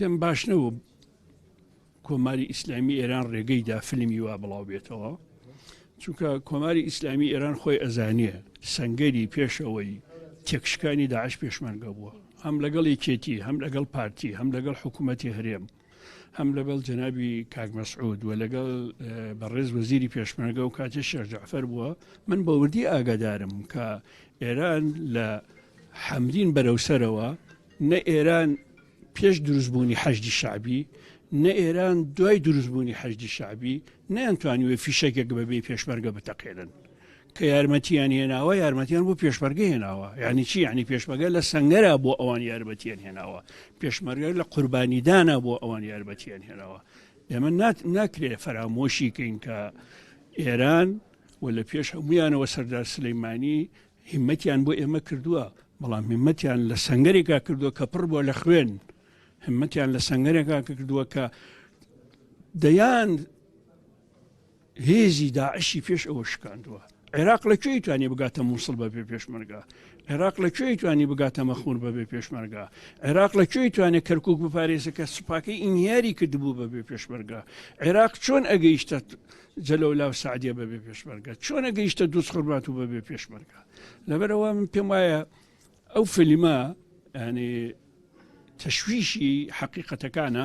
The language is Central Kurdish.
پێم باش نەبوو کۆماری ئیسلامی ئێران ڕێگەی دا فلمی وا بڵاو بێتەوە چونکە کۆماری ئیسلامی ئێران خۆی ئەزانیە سنگەری پێشەوەی تێکشکانی داعش پێشمەرگە بووە هەم لەگەڵ یەکێتی هەم لەگەڵ پارتی هەم لەگەڵ حکوومەتی هەرێم هەم لەگەڵ جەنابی کاک مەسعود و لەگەڵ بەڕێز وەزیری پێشمەرگە و کاتێ شێرجعفەر بووە من بەوردی ئاگادارم کە ئێران لە حەمرین بەرەوسەرەوە نە ئێران پێش دروستبوونی حەشدی شەعبی، نە ئێران دوای دروستبوونی حەشدی شەعبی، نەیانتوانیوە فیشەکێک بەبێ پێشمەرگە بتەقێنن. کە یارمەتییان هێناوە، یارمەتییان بۆ پێشمەرگە هێناوە. یانی چی؟ یانی پێشمەرگە لە سەنگەرە بۆ ئەوان یارمەتییان هێناوە. پێشمەرگە لە قوربانیدانە بۆ ئەوان یارمەتییان هێناوە. ئێمە ناکرێت فەرامۆشی کەین کە ئێران و لە پێش هەموویانەوە سەردار سلەیمانی هیمەتیان بۆ ئێمە کردوە بەڵام هیمەتیان لە سەنگەرێکا کردوە کە پڕ بوە لە خوێن هیمەتیان لە سەنگەرێکا کردوە کە دەیان هێزی داعشی پێش ئەوە شکاندووە عێراق لە کوێی توانانی بگاتە مووسڵ بە بێ پێشمەرگا عێراق لە کوێی توانانی بگاتە مەخور بە بێ پێشمەرگا عێراق لە کوێی توانێت کەرکک بپارێزەکە سوپاکەی ئینیاری کردبوو بە بێ پێشمەرگا عێراق چۆن ئەگەیشتە جەلەولا و سەعدیە بەبێ پێشمەرگە چۆنە گەیشتە دووس خورمات و بەبێ پێشمەرگە لەبەرەوە من پێم وایە ئەو فلیمە ینی تەشویشی حقیقەتەکانە